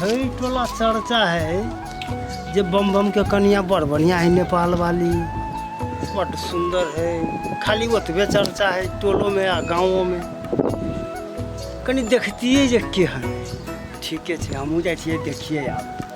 हई टोला चर्चा है जे बम बम के कनिया बड़ बढ़िया है नेपाल वाली बड़ सुंदर है खाली ओतबे चर्चा है टोलो में आ गाँवों में कनी देखतिए जे के है ठीके छै हमहूँ जाइ छियै देखिए आब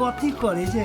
कथी करे जे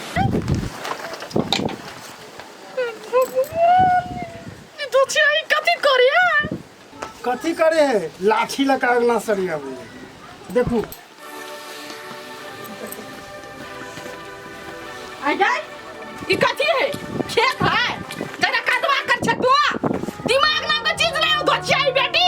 कथी करे है लाठी लगा अंगना सरिया बोले देखू अजय ई कथी है खेत है तेरा कदवा कर छतुआ दिमाग नाम का चीज नहीं हो गोचिया ई बेटी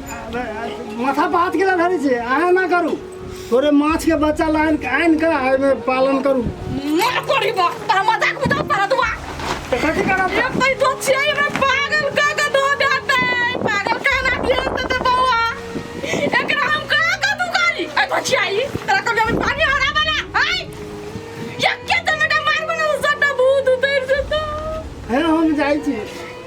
माथा बात के धरे छे आया ना करू थोड़े माछ के बच्चा लाइन आइन का एमे पालन करू मर कोरी बा तोरा मजाक में तो परत बा तो कथी करब एक तई दो छिए हमरा पागल का का दो देते पागल का ना दिए त ते बौआ एकरा हम का का दू गाली ए तो छिए तोरा को जब पानी हरा बना हाय एक के तो मेरा मार बना सटा भूत उतर जता है हम जाई छी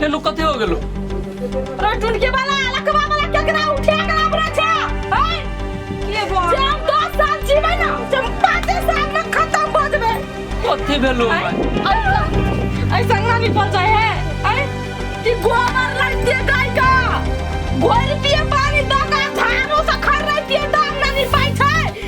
फेलू कथी हो गेलो अरे टुनके वाला लखवा वाला केकरा उठे करा हमरा छा हैं के बो जे हम दस साल जीवे ना से पाँचे साल में खत्म हो जबे कथी भेलो हैं? ऐसा ऐसा ना निकल जाए है हैं कि गोबर लग दे गाय का गोर पिए पानी दो का झाड़ू से खर रही पिए दाम ना निपाई छै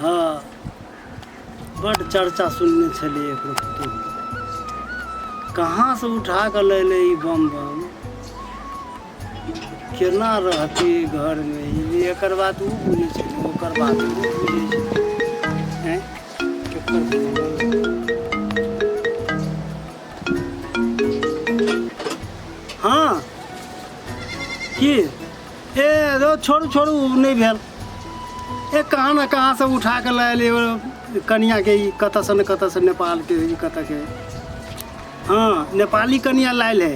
हाँ बड़ चर्चा सुनने छलिए एकरो पुतोह कहाँ से उठा के लैले ई बम बम केना रहती ई घर में ई एकर बात ऊ बुझे छै ओकर बात ऊ बुझे छै हैं केकर बुझे? हाँ की ए रो छोड़ू छोड़ू उ नहि भेल ए कहाँ ने कहाँ से उठा के लायल एगो कनिया के ई कतऽ से ने कतऽ से नेपाल के ई कतऽ के हाँ नेपाली कनिया लायल है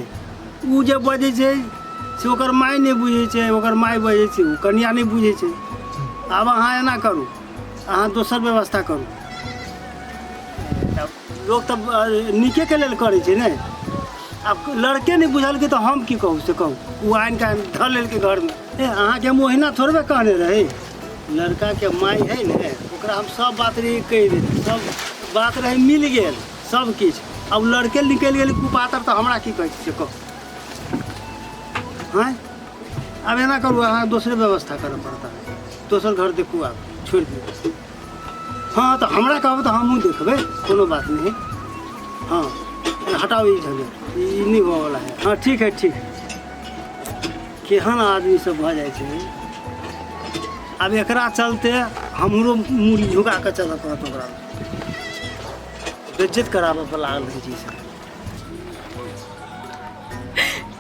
उ जे बजै छै से ओकर माय नहि बुझै छै ओकर माय बजै छै उ कनिया नहि बुझै छै आब अहाँ एना करू अहाँ दोसर व्यवस्था करू लोग तब अ, नीके के लेल करै छै ने अब लड़के नहीं बुझल के तो हम की कहू से कहू वो आन के धर लेल के घर में ए, अहाँ के हम ओहिना थोड़बे कहने रही लड़का के माई है ने ओकरा हम सब बात रही कह दे सब बात रहे मिल गेल सब किछ अब लड़के निकल गेल कुपातर तो हमरा की कहै छै से कहू हैं अब एना करू अहाँ दोसरे व्यवस्था करऽ पड़ता दोसर घर देखू आब छोड़ि दियौ हाँ तो हमरा कहब तो हमहूँ देखबे कोनो बात नहीं हाँ हटाओ ये झंझट ई नहीं हुआ वाला है हाँ ठीक है ठीक है केहन आदमी सब भऽ जाइ छै आब एकरा चलते हमरो मूड़ी झुका कऽ चलऽ पड़त ओकरा बेज्जत कराबऽ पर लागल रहै छै ई सब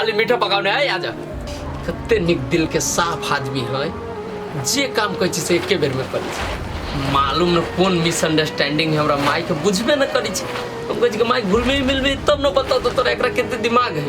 अलि मिठो पकाउने है आज कते निक दिल के साफ आदमी है जे काम कहै छी से एके बेर में करै छी मालूम न कोन मिसअंडरस्टैंडिंग है हमरा माई के बुझबे न करै छी हम कहै छी कि माई घुलमे मिलबे तब न बताओ तो तोरा एकरा कते दिमाग है